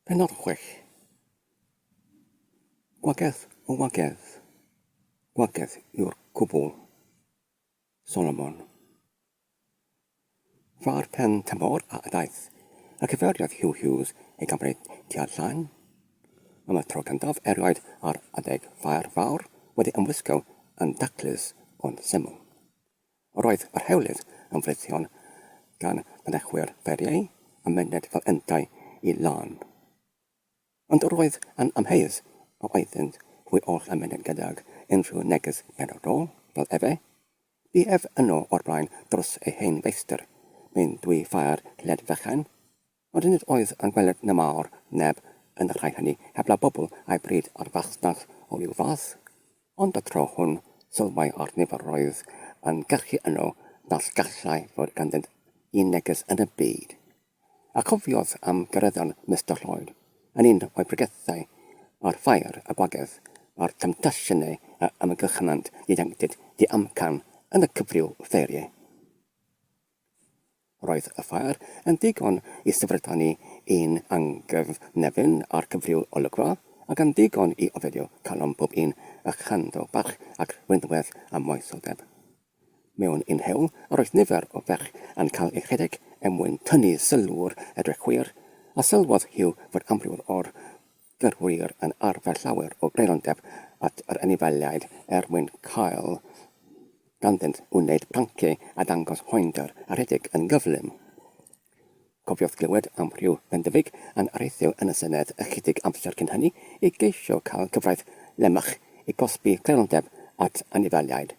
Pennod chwech. Gwagedd o wagedd, gwagedd yw'r cwbl. Solomon. Ffa'r pen tymor a ydaeth, a cyfeiriodd Hugh Hughes ei gamryd tua'r llain. Am y tro cyntaf erioed ar adeg ffa'r fawr wedi ymwisgo yn daclus ond syml. Roedd y rhewlif yn frithiol gan fynychwyr fferiau a myned fel yntau i Larne. Ond roedd yn amheus a oeddynt hwy oll a myned gydag unrhyw neges benodol, fel efe, Bu ef yno o'r blaen dros ei hen feistr, mewn dwy ffair led fechan, Ond nid oedd yn gweled na mawr neb yn y rhai hynny heblaw bobl a'i bryd a'r fasnach o ryw fath. Ond y tro hwn sylwai ar niferoedd yn gyrchu yno nas gallai fod ganddynt un neges yn y byd. A chofiodd am gyreddon Mister Lloyd yn un o'i bregethau a'r ffair, y gwagedd, a'r temtasiynau a ymgyrchynant ieuenctid diamcan yn y cyfryw ffeirie. Roedd y ffair yn ddigon i syfrdanu ein anghyfnefin a'r cyfryw olygfa, ac yn ddigon i oferio calon pob un a chanddo bach ac rhwydwaith a moesodeb. Mewn un hewl, yr oedd nifer o fech yn cael eu rhedeg er mwyn tynnu sylw'r edrychwyr, a sylwodd Hugh fod amryw o'r Dyw'r ŵyr yn arfer llawer o greirondeb at yr anifeiliaid er mwyn cael ganddynt wneud pranci a dangos poendr a rhedeg yn gyflym. Cofiodd glywed am ryw fendefig yn areithio yn y Senedd ychydig amser cyn hynny i geisio cael cyfraith Lemach i gosbi creirondeb at anifeiliaid.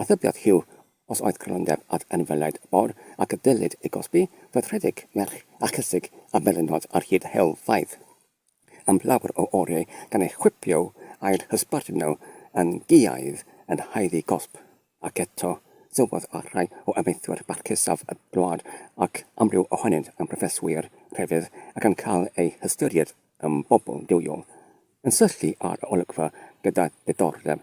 Atebiad Huw, Os oedd crynodeb at anifeiliaid mawr ac y dylid ei gosbi, roedd rhedeg merch a chysug a melynod ar hyd helfaidd am lawer o oriau gan eu chwipio a'u hysbarduno yn giaidd yn haeddu cosb. Ac eto, sylwodd ar rai o amaethwyr barcusaf y wlad, ac amryw ohonynt yn broffeswyr crefydd ac yn cael eu hystyried yn bobl duwiol, yn syllu ar y olygfa gyda diddordeb.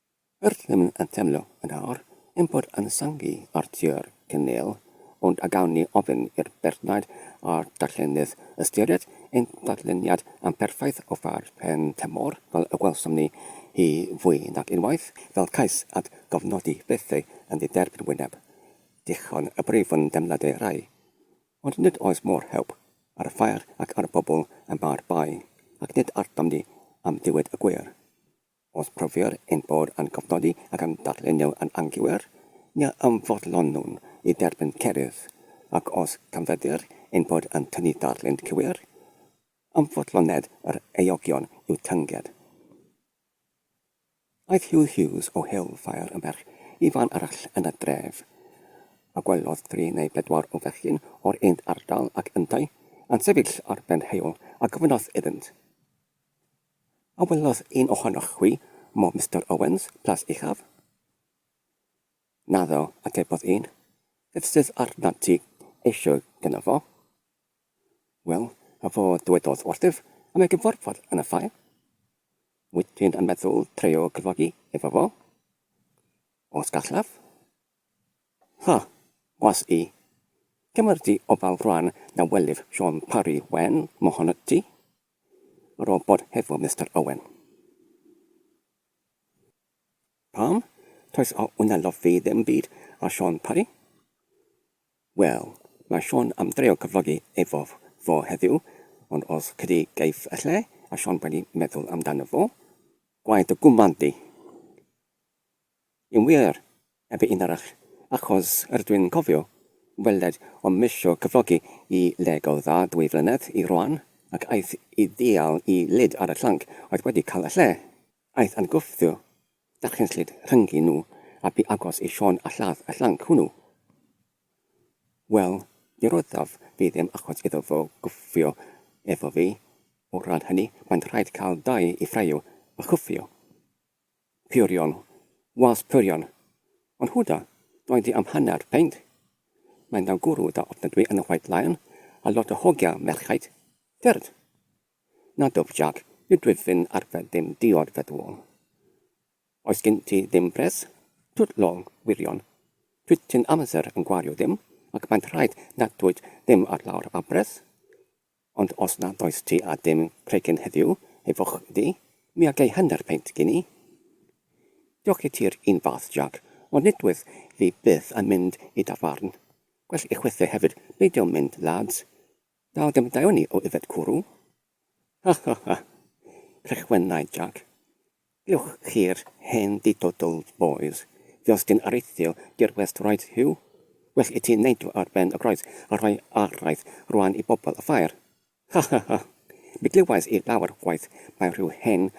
Rydym yn teimlo yn awr ein bod yn syngu ar Dir Kinneil, ond a gawn ni ofyn i'r beirniaid a'r darllenydd ystyried ein darlleniad amperffaith o far Pen Tamor fel y gwelsom ni hi fwy nag unwaith fel cais at gofnodi bethau yn ddiderbyn wyneb dichon y brif yn deimladau rhai, ond nid oes mor hewb ar y ffair ac ar y bobl y mae'r bai, ac nid artom ni am ddiwyd y gwir. Os profier ein bod yn cofnodi ac yn darlunio yn anghywir, ni ymfodlonwn i dderbyn cerydd, ac os canfyddir ein bod yn tynnu darlun cywir, ymfodloned yr eogion i'w tynged. Aeth Hugh Hughes o Hale-fair yn ferch i fan arall yn y dref, a gwelodd dri neu bedwar o fechgyn o'r un ardal ac yntau yn sefyll ar ben heol, a gofynnodd iddynt, A welodd un ohonoch chwi mo Mister Owens, Plas Uchaf? Naddo, atebodd un. Beth sydd arnat ti eisiau gynno fo? Wel, a fo ddywedodd wrthyf am ei gyfarfod yn y ffair. Wyt ti'n yn meddwl treio cyfogi efo fo? Os gallaf? Ha, was i. Cymer di ofal rwan na welif Siôn Parry Wen mohonot ti. Robot hefo Mister Owen. Pam? Toes a ŵna lofi ddim byd a Siôn Parry? Wel, mae Siôn am dreio cyflogi efo fo heddiw, ond os cydi geiff y lle, a Siôn wedi meddwl amdano fo, gwaed dy gwmad di! Yn wir, heb un arall, achos rydw i'n cofio weled o'm isio cyflogi i le go dda dwy flynedd i rwan, ac aeth i ddial i lid ar y llanc oedd wedi cael y lle. Aeth yn gwthio darllenslyd rhyngddyn nhw a bu agos i Siôn a lladd y llanc hwnnw. Wel, mi roeddaf fi ddim achos iddo fo gwffio efo fi, o ran hynny, mae'n rhaid cael dau i ffraeo a chwffio. Purion, was Purion, ond Huda, doedd hi am hanner peint. Mae'n ddawn gwrw da ofnadwy yn y White Lion a lot o hogia merchaid, ffyrdd. Na dwf Jac, nid dwf fyn arfer ddim diod fe ddwl. Oes gin ti ddim pres? Twt lol, wirion. Twt ti'n amser yn gwario ddim ac mae'n rhaid nad wyt ddim ar lawr a bres. Ond os nad oes ti â dim cregyn heddiw, hei foch iddi, mi a gei hanner peint gin i. Diolch i ti'r un fath, Jac, ond nid wyf fi byth yn mynd i dafarn. Gwell i chwithau hefyd beidio mynd, lads. Dal dim daeoni o yfed cwrw. Ha, ha, ha! crechwennai Jac. Diolch chi'r hen didodl bois. Diolch dyn areithiol dirwest roedd Huw. Well i ti neud o ar ben y groes a rhoi araith rwan i bobl y ffair. Ha ha ha! Mi glywais i lawer gwaith mai rhyw hen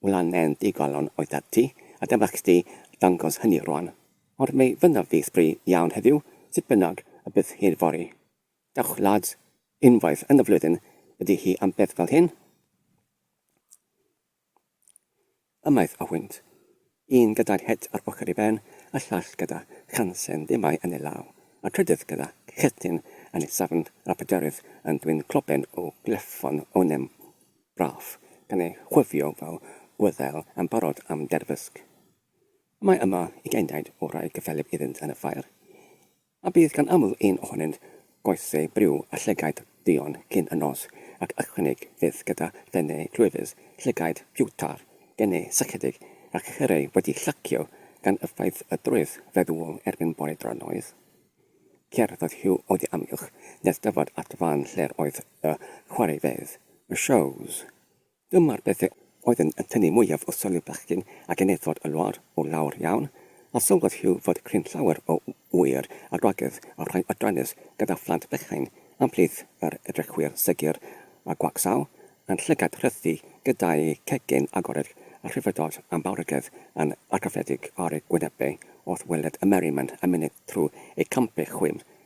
wlanen ddigalon oeddat ti a dyma chdi dangos hynny rwan. Ond mi fynaf fi sbri iawn heddiw sut bynnag y bydd hi fory. Dewch lads! Unwaith yn y flwyddyn ydi hi am beth fel hyn. a maeth a hwynt, un gydag het ar ochr ei ben, a llall gyda chansen demau yn ei law, a trydydd gyda chetyn yn ei safn, a phedwerydd yn dwyn cloben o gleffon onem braf, gan ei chwifio fel gwyddel yn barod am derfysg. Mae yma ugain daid o rai cyffelyb iddynt yn y ffair, A bydd gan aml un ohonynt goesau briw a llygaid duon cyn y nos, ac ychwanig fyth gyda thennau clwyfus, llygaid piwtar, denau sychedig, a chyrrau wedi llacio gan effaith y drwyth feddwol erbyn bore dronoeth? Cerddodd Hugh oddi amgylch nes dyfod at fan lle'r oedd y chwaraefeydd, y shows. Dyma'r pethau oedd yn tynnu mwyaf o sylw bechgyn a genedlod y wlad o lawer iawn, a sylwodd Hugh fod cryn llawer o ŵyr a gwragedd a rhai adrannus gyda phlant bychain am plith yr edrychwyr segur a gwacsaw yn llygad rhythu gyda'u cegin agored a rhyfeddod am fawrhyggedd yn argraffiedig ar eu gwynebau wrth weled y merryman yn myned trwy eu campau chwim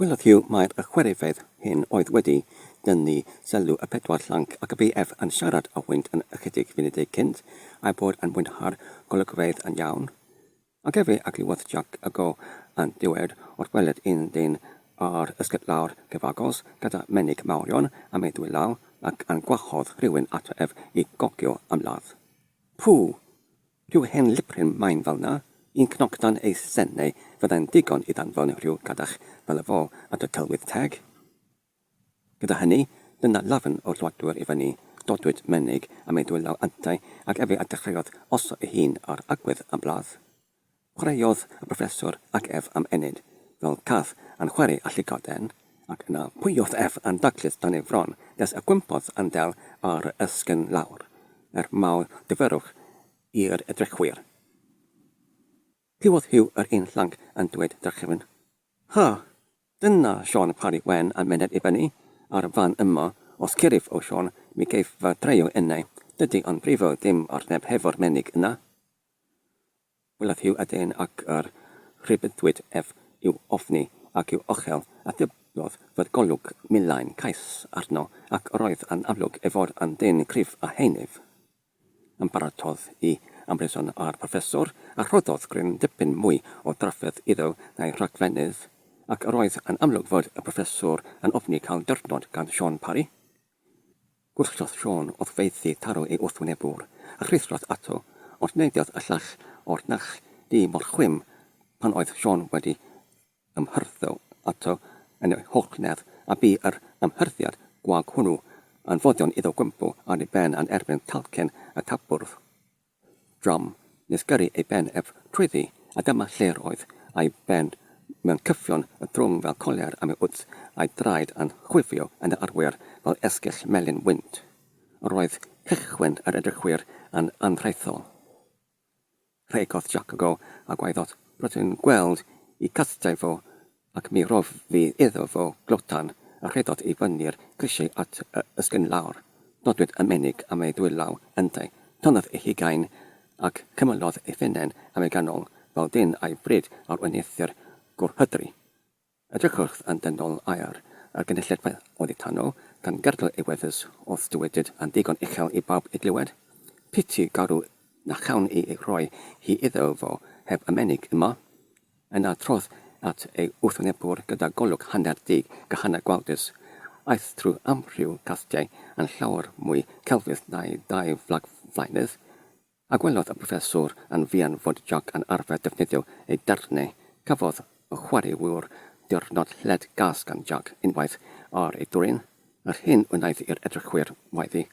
Gwelodd Hugh mai'r chwaraewyr hyn oedd wedi tynnu sylw y pedwar llanc ac y bu ef yn siarad â hwynt yn ychydig funudau cynt a'i bod yn mwynhau'r golygfeydd yn iawn. Ac efe a glywodd Jac y go yn diwedd wrth weled un dyn ar ysgyd lawr cyfagos gyda menig mawrion am ei ddwy law ac yn gwahodd rhywun ato ef i gogio ymladd. Pŵ! Rhyw hen liprin main fel 'na, un cnoc dan ei sen neu fyddai'n ddigon i ddanfon rhyw gadach fel y fo at y Tylwyth Teg? Gyda hynny, dyna lafn o Lladwr i fyny, dodwyd menig am ei ddwylaw yntau ac efe a dechreuodd osod ei hun ar agwedd am ladd. Chwaraeodd y Proffeswr ac ef am ennyd, fel cath yn chwarae â llugoden. Ac yna, pwy oedd ef yn daclus dan ei fron nes y gwympodd andel ar yr esgyrn lawr, er mawr gyfyrwch i'r edrychwyr? Pwy oedd Huw yr un llanc yn dweud drachefn? Ha! Dyna Siôn Parry Wen a myned i fyny ar y fan yma, os cyrif o Siôn, mi geiff fy dreio innau, dydy o'n brifo ddim ar neb hefo'r menig yna. Bwled yw eden ac yr rhybuddwyd ef i'w ofni ac i'w ochel, a dybiodd fod golwg milau'n cais arno, ac yr oedd yn amlwg ei fod yn ddyn cryf a henif. Ymbarododd i ymryson â'r proffesor, a rhoddodd gryn dipyn mwy o drafferth iddo na'i rhagfennydd, ac yr oedd yn amlwg fod y proffesor yn ofni cael dyrnod gan Siôn Parry. Gwrthodd Siôn wrth feithi taro ei wrthwynebwr, a rhuthrodd ato, ond neidiodd y llall o'r nall du mor chwim pan oedd Siôn wedi ymhyrtho ato yn ei hochnedd, a bu yr ymhyrthiad gwag hwnnw yn foddion iddo gwympo ar ei ben yn erbyn talcen y tabwrdd. Drom, nes gyrru ei ben ef trwyddi, a dyma lle roedd ei ben mewn cyffion y drwng fel colier am ei wddf a'i draed yn chwifio yn yr arwyr fel esgyll melyn wynt. Yr oedd cychwyn yr edrychwyr yn anhraethol. Rhegodd Jac y go a gwaeddodd, Rydw i'n gweld i castiau fo Ac mi rodd fi iddo fo glotan a rhedot i fyny'r grisiau at y ysgyn lawr. Nodwyd y menig am ei ddwylaw ynddo. Tornodd ei hugain ac cymylodd ei phennen am ei ganol fel dyn a'i fryd ar wen eithr gwrhydri. Edrychwch yn dynol ar y gynulleidfa oddi tano, gan gerdded ei wefus wrth dywedyd yn ddigon uchel i bawb ei glywed, Piti garw na chawn i ei rhoi hi iddo fo heb y menig yma. Yn adrodd at ei wrthwynebwr gyda golwg hanner dug a hanner gwawdus, aeth trwy amryw gastiau yn llawer mwy celfydd na'i ddau flagflaenydd, a gwelodd y proffeswr yn fuan fod Jac yn arfer defnyddio ei darnau. Cafodd y chwaraewr ddiwrnod lled gas gan Jac unwaith ar ei dwrin, yr hyn wnaeth i'r edrychwyr waeddi,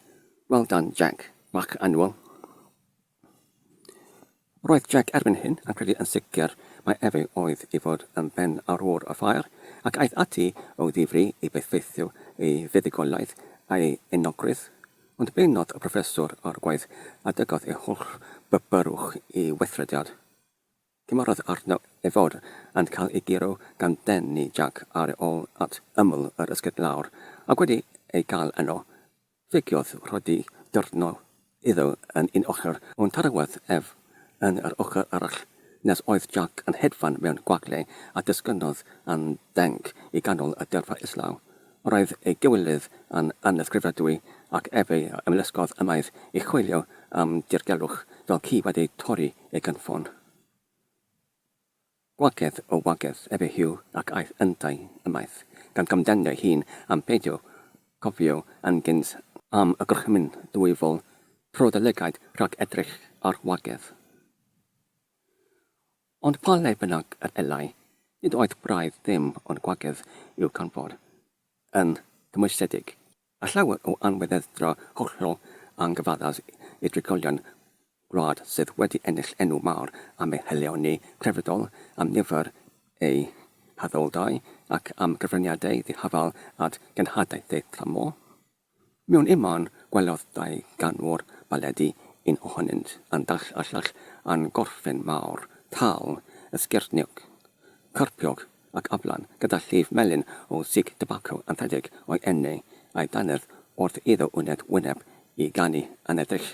Well done, Jac! Mark Annual. Roedd Jack erbyn hyn yn credu yn sicr mai efe oedd i fod yn ben arwr y ffair, ac aeth ati o ddifri i bethfeithio ei fuddugoliaeth a'i enogrwydd, ond beunnodd y proffeswr o'r gwaith a dygodd ei holl bydbyrwch i weithrediad. Cymerodd arno ei fod yn cael ei guro gan Denny Jac ar ôl at ymyl yr esgyrn lawr, ac wedi ei gael yno, ffugiodd Rhoddy dyrno iddo yn un ochr, ond tarawodd ef yn yr ochr arall, nes oedd Jac yn hedfan mewn gwagle a disgynnodd yn denc i ganol y dyrfa islaw. Roedd ei gywilydd yn anysgrifenadwy ac efe a ymlusgodd ymaith i chwilio am dirgelwch fel ci wedi torri ei gynffon. Gwagedd o wagedd efe Huw ac aeth yntau ymaith, gan gamdenu ei hun am beidio cofio yn gynt. Am y gorchymyn ddwyfol tro dy lygaid rhag edrych ar wagedd. Ond pa le bynnag yr elai, nid oedd braidd ddim ond gwagedd i'w ganfod yn gymwysedig, a llawer o anweddedra hollol anghyfaddas i drigolion gwlad sydd wedi ennill enw mawr am ei haelioni crefyddol, am nifer ei haddoldai, ac am gyfraniadau ddihafael at genhadaeth ei thamor. Mewn ymân, gwelodd dau ganwr baledi, un ohonynt yn dall a llall yn gorffen mawr, tal, esgyrniog, carpiog ac aflan, gyda llif melyn o sig tybaco anrhydedig o'i enne, a'i dannedd wrth iddo wneud wyneb i ganu aneddill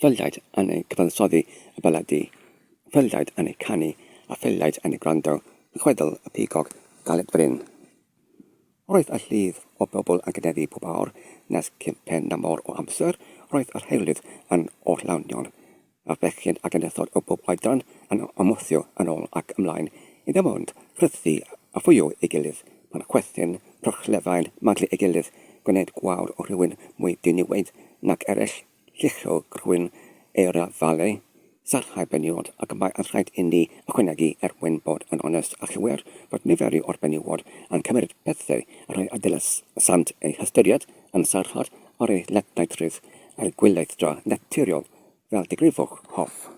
Ffyliaid yn ei gyfansoddi y baledi, ffyliaid yn ei canu, a ffyliaid yn ei gwrando, yn chwedl y pigog galed brin. Roedd y llif o bobl yn cynyddu pob awr, nes ciphen na mor o amser, roedd yr heirlydd yn orllawnion, a bechgyn ac ynysoedd o bob oedran yn ymwthio yn ôl ac ymlaen i ddim ond rhythu a ffwio ei gilydd, pan chwerthin rhychlefain maglu ei gilydd, gwneud gwawr o rywun mwy diniwed nag eraill. Lluchogwyn Eira Vale, Sarhau Benywod ac mae yn rhaid inni ychwanegu, er mwyn bod yn onest a chywir, fod niferu o'r benywod yn cymryd pethau a rhai a dylesant eu hystyried yn sarhad ar eu lletnau treth a'u gweithdra naturiol fel digrifwch hoff.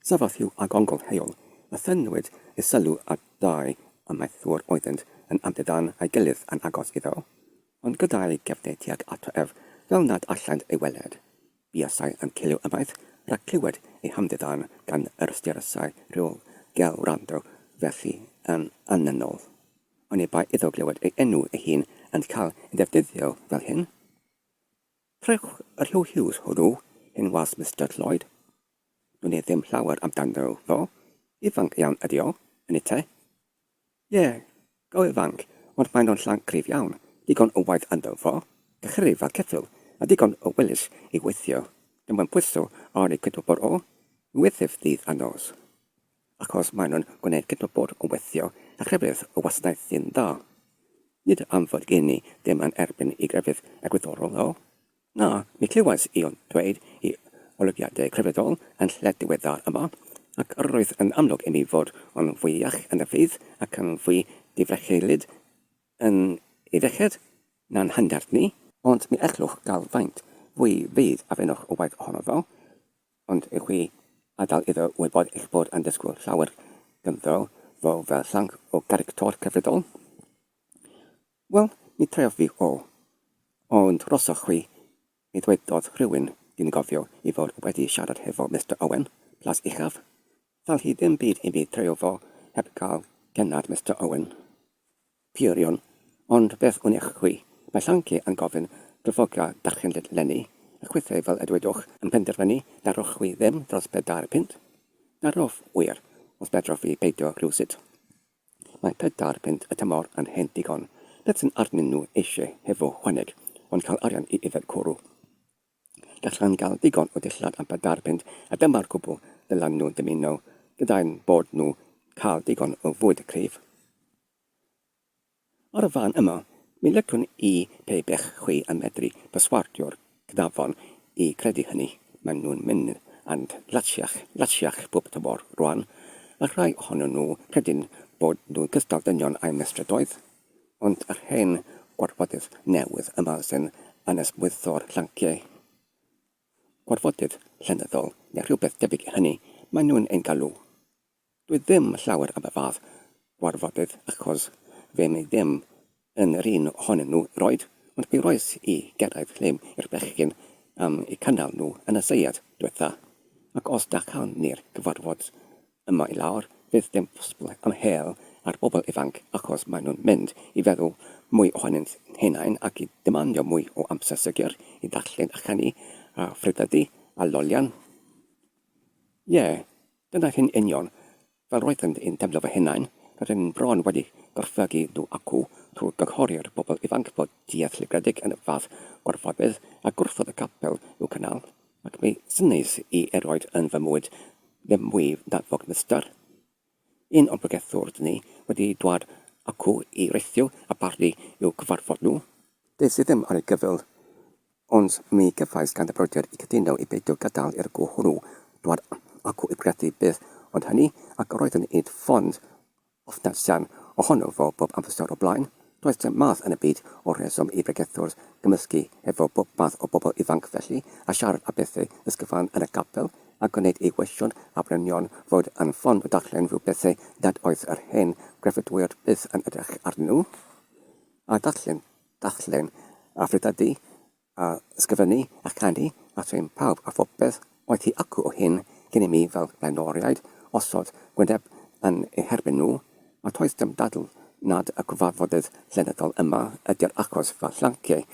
Safodd Hugh ag ongl Heol a thynwyd ei sylw at ddau amaethwr oeddynt yn amddiddan a'i gilydd yn agos iddo. Ond gyda'i gefnder tuag ato ef fel nad allant ei weled, buasai yn ciliw ymaith rhag clywed ei hamddiddan gan yr ystyriasai rhyw gel wrando felly yn annynol. Oni bai iddo glywed ei enw ei hun yn cael ei ddefnyddio fel hyn? Rhowch yr Huw Hughes hwnnw, hen was Mister Lloyd. Dwn i ddim llawer amdano fo, ifanc iawn ydy o, yn y te. Ie, go ifanc, ond maen nhw'n llanc cryf iawn, digon o waith ynddo fo, cychrif a cheffyl, a digon o wellus i weithio, dim ond pwyso ar eu cydwybod o, mi weithif ddydd a nos. Achos maen nhw'n gwneud cydwybod o weithio a chrefydd o wasanaeth sy'n dda. Nid am fod gen i ddim yn erbyn i grefydd egwyddorol, ddo. Na, mi glywais i o'n dweud i olygiadau crefyddol yn lled diweddar yma, ac yr oedd yn amlwg i mi fod o'n fwy iach yn y ffydd ac yn fwy difrecheilyd yn ei ddeched na'n hangerdd ni, ond mi ellwch gael faint fwy fydd a fenwch o waith ohono ddo, ond i chwi adael iddo wybod eich bod yn disgwyl llawer ganddo fo fel llanc o garictor crefyddol. Wel, mi treodd fi o. Ond drosoch chwi, mi ddwedodd rhywun, dwi'n cofio i fod wedi siarad hefo Mister Owen, Plas Uchaf, ddal hi ddim byd i mi treio fo heb gael cennad Mister Owen. Peirion, ond beth wn eich chwi, mae Llanci yn gofyn dyfodiau darchenllyd 'leni, a chwithau fel y dywedwch yn penderfynu daroch chwi ddim dros bedair punt. Darof, wir, os fedroch fi peidio rhywsut. Mae pedair punt y tymor yn hen ddigon. Beth sy'n arnyn nhw eisiau hefo chwaneg ond cael arian i yfed cwrw? Gallan gael digon o dillad am pedair punt a dyma'r cwbl ddylan nhw dymuno gyda'u bod nhw'n cael digon o fwyd cryf. O'r fan yma, mi licwn i pe bech chwi yn medru perswadio'r cnafon i gredu hynny, maen nhw'n mynd and latsiach, latsiach bob tymor rwan, a rhai ohonyn nhw credin bod nhw'n cystal dynion a'u mestrydoedd, ond yr hen gorfodydd newydd yma sy'n anesmwytho'r llanciau, gorfodydd llenyddol neu rhywbeth debyg i hynny, maen nhw'n ein galw Dwi ddim llawer am y fath warfodydd achos fe wnei ddim yn yr un ohonyn nhw roid ond mi roes i gyrraedd llym i'r bechgyn am eu cynnal nhw yn y seiad dwetha ac os da cawn ni'r cyfarfod yma i lawr fydd dim posbl am hel ar bobl ifanc achos maen nhw'n mynd i feddwl mwy ohonynt henain ac i demandio mwy o amser sigur i ddarllen a chanu a phryddydu a lolian ie Dyna hi'n union. Fel roeddent yn teimlo fy hunain, roeddwn i'n bron wedi gorfygu nhw acw trwy gynghori'r bobl ifanc fod duedd llifredig yn fath gorfodydd a gwrthod y capel i'w cynnal, ac mi synnais i erioed yn fy mywyd ddim mwy na fod Mister. Un o'n pregethwr ni wedi dwad acw i reithio a barnu i'w cyfarfod nhw. Des i ddim ar ei gyfyl. Ond mi gefais ganddybrodiad i gytuno i beidio gadael i'r go hwnnw dwad acw i gredu byth ond hynny, ac yr oedd yn id fond ofnadsian ohono fo bob amser o blaen. Does dim math yn y byd o rheswm i bregethwr gymysgu efo bob math o bobl ifanc felly, a siarad a bethau ysgyfan yn y capel, a gwneud ei wesiwn a brynion fod yn fond o darllen rhyw bethau nad oedd yr hen grefyddwyr byth yn edrych arnyn nhw a darllen. darllen a phregethu a ysgrifennu a chanu a thrin pawb a phopeth oedd hi acw o hyn cyn i mi fel blaenoriaid osod gwyneb yn eu herbyn nhw, a toes dim dadl nad y cyfarfodydd llenyddol yma ydy'r achos fy llanciai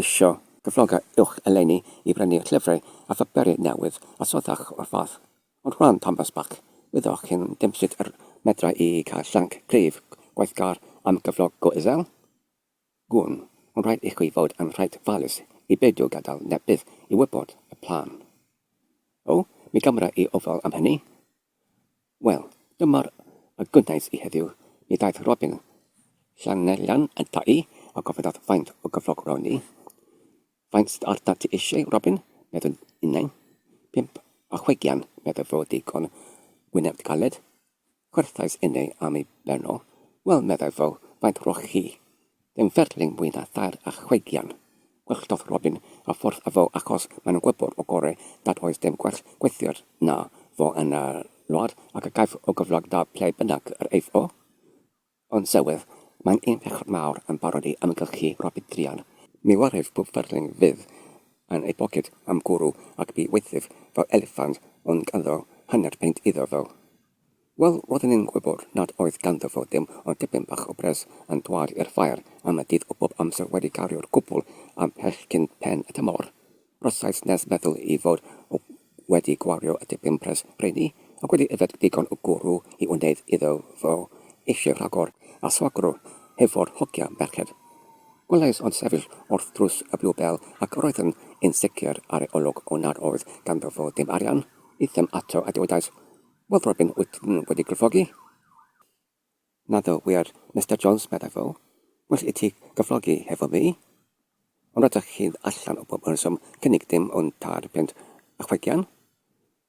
eisio cyfloga uwch eleni i brynu llyfrau a phaperi newydd a sothach o'r fath. Ond Juan Thomas Bach, wyddoch chi'n dim sut yr medra i cael llanc cryf gwaithgar am gyflog go isel? Gwn, ond rhaid i chi fod yn reit falus i beidio gadael neb byth i wybod y plan. O, mi gymra i ofal am hynny. Wel, dyma'r y gwnaes i heddiw, mi ddaeth Robin Llanellan ata i a gofynnodd faint o gyflog rown i. Faint sydd arnat ti eisiau, Robin? meddwn innau. Pump a chwe gian, medda fo digon wyneb galed. Gwerthais inne am ei ben o. Wel, meddai fo, faint roch chi? Dim ferlyn mwy na thair a chweigian. Gwelltodd Robin y ffordd a fo achos mae'n gwybod o gore nad oes dim gwell gweithiwr na fo yn y wlad ac y caiff o gyflog da ble bynnag yr eiff o. Ond Sewydd, mae'n un pechod mawr yn barod i amgylchu Robert Druan. Mi warif pob fferlling fydd yn ei boced am gwrw ac bu waethaf fel eliffant ond ganddo hanner peint iddo fo. Wel, roedden ni'n gwybod nad oedd ganddo fo dim ond dipyn bach o bres yn dwad i'r ffair am y dydd o bob amser wedi cario'r cwbl am pell cyn pen y tymor. Rhosais nes meddwl i fod o wedi gwario y dipyn pres rheiny, ac wedi yfed digon o gwrw i wneud iddo fo eisiau rhagor a swagro hefo'r hogia merched. Gwelais o'n sefyll wrth drws y Bluebell ac roeddwn yn sicr ar ei olwg o nad oedd ganddo fo ddim arian i ddim ato a dywedais, Wel Robin wyt ti ddim wedi gryffogi? Naddo wir, Mister Jones, meddai fo. Well i ti gyflogi hefo fi. Ond rydych chi'n allan o bob rheswm cynnig dim ond tair punt a chwegian.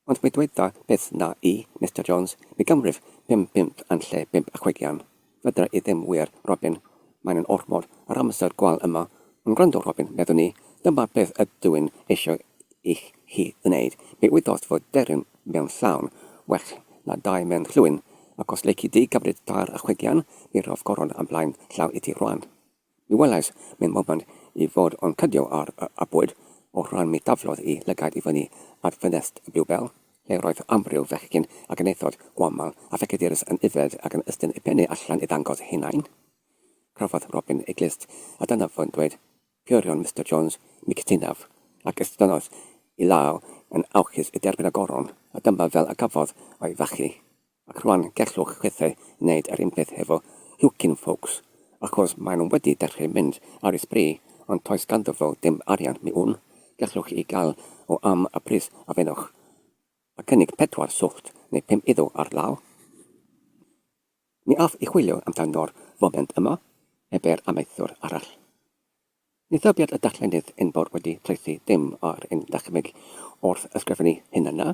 Ond mi ddweda byth na i, Mister Jones, mi gymrif pum punt yn lle bump a chwegian. Fedra i ddim wir, Robin. Maen nhw'n ormod ar amser gwael yma. Ond gwrando, Robin, meddwn i, dyma beth ydw i'n eisiau i chi wneud. Mi wyddost fod deryn mewn llawn, well na dau mewn llwyn, ac os leici di gymryd tar a chwigian, mi rof goron am blaen llaw iti rwan. Mi welais mewn moment i fod o'n cydio ar y bwyd, o'r rhan mi daflodd i lygaid i fyny at ffenest y Bluebell, lle roedd amryw fechgyn a genethod gwamal a phecedurus yn yfed ac yn ystyn eu pennau allan i ddangos eu hunain. Crafodd Robin ei glust, a dyna fo'n dweud, Cyrhaodd Mister Jones Mikitinov ac estynnodd ei law yn awchus i dderbyn y goron, a dyma fel y cafodd o'i fachu. Ac rwan gellwch chwithau wneud yr un peth hefo Hewkin folks, achos maen nhw wedi dechrau mynd ar ei sbri, ond toes ganddo fo dim arian, mi wn, gellwch ei gael o am y pris a fenwch, a cynnig pedwar swllt neu pum iddo ar law. Ni all i chwilio amdano'r foment yma heb yr amaethwr arall. Ni thybied y darllenydd enfawr wedi traethu dim ar ein dychymyg wrth ysgrifennu hyn yna.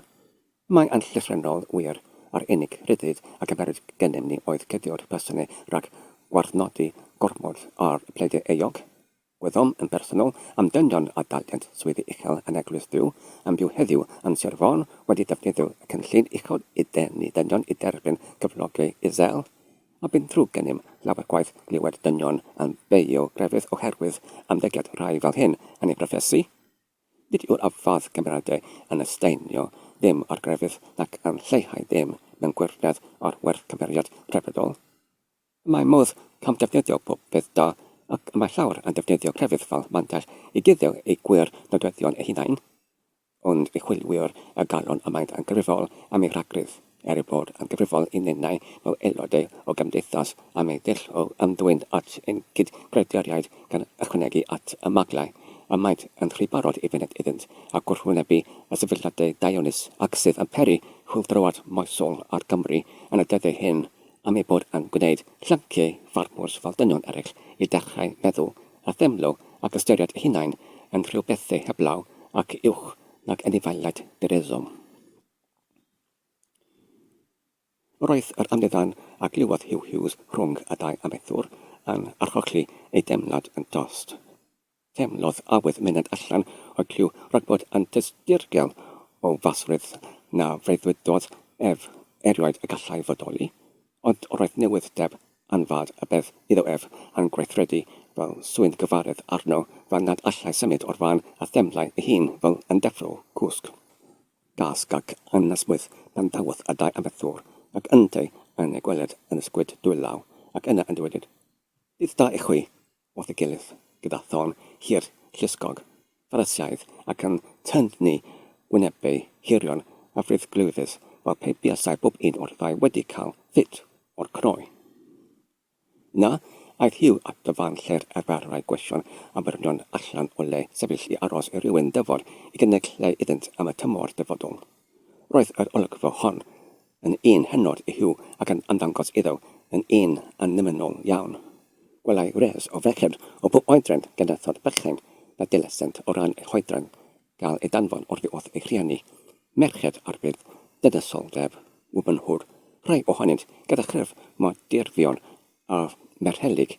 Mae yn llythrennol wir, yr unig ryddid a gymerwyd gennym ni oedd cuddio'r plasynau rhag gwarthnodi gormod ar bledau euog. Gwyddom yn bersonol am dynion a dalent swyddi uchel yn Eglwys Duw yn byw heddiw yn Sir Fôn wedi defnyddio y cynllun uchod i ddenu dynion i dderbyn cyflogi i Sel, a bu'n ddrwg gennym lawer gwaith glywed dynion yn beio grefydd oherwydd ymddygiad rhai fel hyn yn eu proffesi. Nid yw'r ymffordd cymeradwy yn estynio dim o'r grefydd nac yn lleihau dim mewn gwirionedd o'r werth cymeriad rhyfeddol. Y mae modd camddefnyddio pob peth da, ac y mae llawer yn defnyddio crefydd fel mantell i guddio eu gwir nodweddion eu hunain, ond y chwilwyr y galwn y maent yn gyfrifol am eu rhagrith, er eu bod yn gyfrifol i ninnau fel aelodau o gymdeithas am eu dull o ymddwyn at ein cyd-greaduriaid gan ychwanegu at y maglau y maent yn rhy barod i fyned iddynt a gwrthwynebu y sefydliadau daearus ac sydd yn peri chwyldroad moesol ar Gymru yn y dyddiau hyn am ei bod yn gwneud llanciau ffarmwrs fel dynion eraill i ddechrau meddwl a theimlo ac ystyried eu hunain yn rhyw bethau heblaw ac uwch nag anifeiliaid direddom. Roedd yr amddiffyn a glywodd Huw Hughes rhwng y ddau amaethwr yn archosli ei deimlad yn dost. Teimlodd awydd myned allan o'r clyw rhag bod yn dysdirgel o fasrwydd na freuddwydodd ef erioed y gallai fodoli, ond roedd newydd deb anfad y bedd iddo ef yn gweithredu fel swyn gyfaredd arno fel nad allai symud o'r fan a theimlai ei hun fel yn deffro cwsg. Dasg ac anesmwyth pan ddawodd y ddau amaethwr ac yntau yn ei gweled yn ysgwyd dwylaw ac yna yn dywedyd, Dydd da i chwi! wrth ei gilydd, gyda thân hir llusgog Pharisaidd ac yn tynnu gwynebau hirion a frithglwyfus fel pe buasai bob un o'r ddau wedi cael ffit o'r croen. Yna, aeth Hugh at y fan lle'r arferai gweision abernion allan o le sefyll i aros i rywun dyfod i gynnig lle iddynt am y tymor dyfodol. Roedd yr olygfa hon yn un hynod i Huw ac yn ymddangos iddo yn un annymunol iawn. Gwelai wres o ferched o bob oedran gyda thod bychain na dilesent o ran eu hoedran gael eu danfon oddi wrth eu rhieni, merched arbed, dydysoldeb, wobynhwr, rhai ohonynt gyda chryf mor dirfion â merhelyg,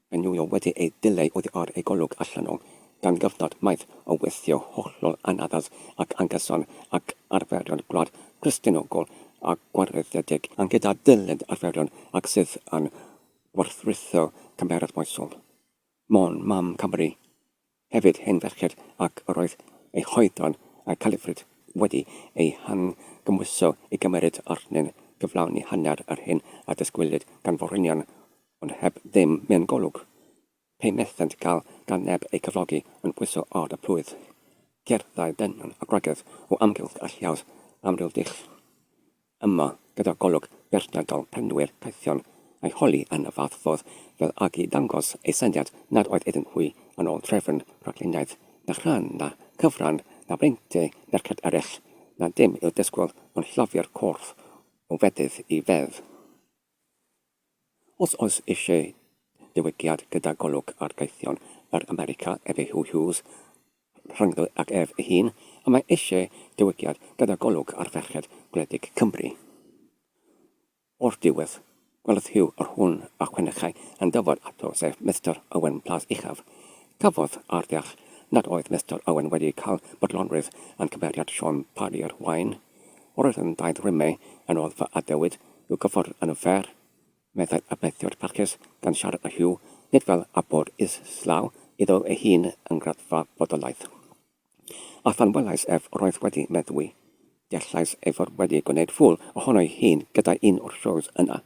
Mae New York wedi ei dileu oddi ar ei golwg allan o, gan gyfnod maith o weithio hollol anaddas ac anghyson ag arferion gwlad Cristionogol a gwareiddiedig, ond gyda dyled arferion ac sydd yn gwerthwritho cymeradwyaethol. Môn, mam Cymru, Hefyd hen ferched ac yr oedd eu hoedran a'u califryd wedi eu hangymhwyso i gymeryd arnynt gyflawni hanner yr hyn a ddysgwylid gan forwynion ond heb ddim mewn golwg pe methent gael gan neb eu cyflogi yn pwyso ard a plwyf cerddai dynion a gwragedd o amgylch a lliaws amryw dull Yma, gyda golwg beirniadol prynwyr caethion a'i holi yn fath fodd fel ag i ddangos ei syniad nad oedd iddyn nhw yn ôl trefn rhagluniaeth, na chrân, na chyfran, na breintiau merched eraill, na dim i'w disgwyl ond lloffi'r corff o fedydd i fedd. Os oes eisiau diwygiad gyda golwg ar gaethion yr America ef yw Huw Hughes, rhyngddo ag ef ei hun, a mae eisiau diwygiad gyda golwg ar ferched gwledig Cymru. O'r diwedd, gwelodd Huw yr hwn a chwenechai yn dyfod ato sef Mister Owen Plas Uchaf. Cafodd a'r ddeall nad oedd Mister Owen wedi cael bodlonrwydd yn cymeriad Siôn Parry yr Waun, Roedd yn daith rym me yn ôl fy adewid i'w gyffordd yn y fair, meddai Arbeddiwr Parkes gan siarad â Hugh, nid fel a bod islaw iddo ei hun yng ngraddfa bodolaeth. A phan welais ef roedd wedi meddwi. Deallais ei fod wedi gwneud ffŵl ohono'i hun gydag un o'r shows yna,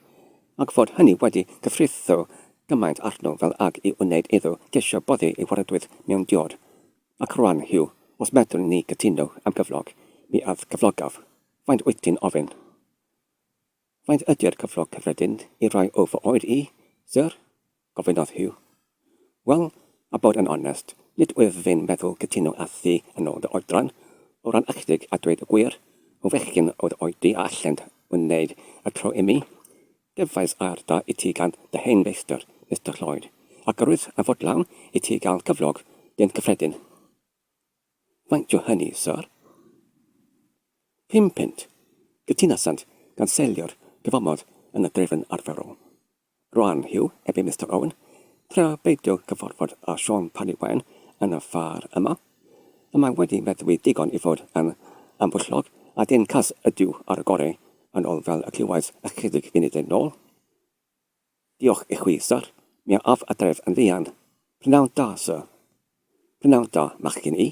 ac fod hynny wedi cyfritho gymaint arno fel ag i wneud iddo gesio boddi ei waradwydd mewn diod. Ac rwan, Huw, os medrwn ni gytuno am gyflog, mi âf gyflogaf. Faint wyt ti'n ofyn? Faint ydy'r cyflog cyffredin i rai o fy oed i, Syr? gofynnodd Huw. Wel, a bod yn onest, nid wyf fi'n meddwl cytuno â thi yn ôl dy oedran, o ran ychydig a dweud y gwir, o fechgyn o dy oed di a allent wneud y tro imi, Cefais arda i ti gan dy hen feistr, Mister Lloyd, ac yr wyf yn fodlon i ti gael cyflog dyn cyffredin. Faint yw hynny, Syr? Pum punt, cytunasant gan seilio'r cyfamod yn y drefn arferol. Rwan, Hugh, ebe Mister Owen, tra beidio cyfarfod â Siôn Parry Wen yn y ffair yma, Y mae wedi meddwi digon i fod yn ambwyllog, a dyn cas ydyw ar y goreu, yn ol fel y clywais ychydig funudau nol. Diolch i chwi, syr. Mi a af adref yn fuan. Prynawn da, syr. Prynawn da, machgyn i.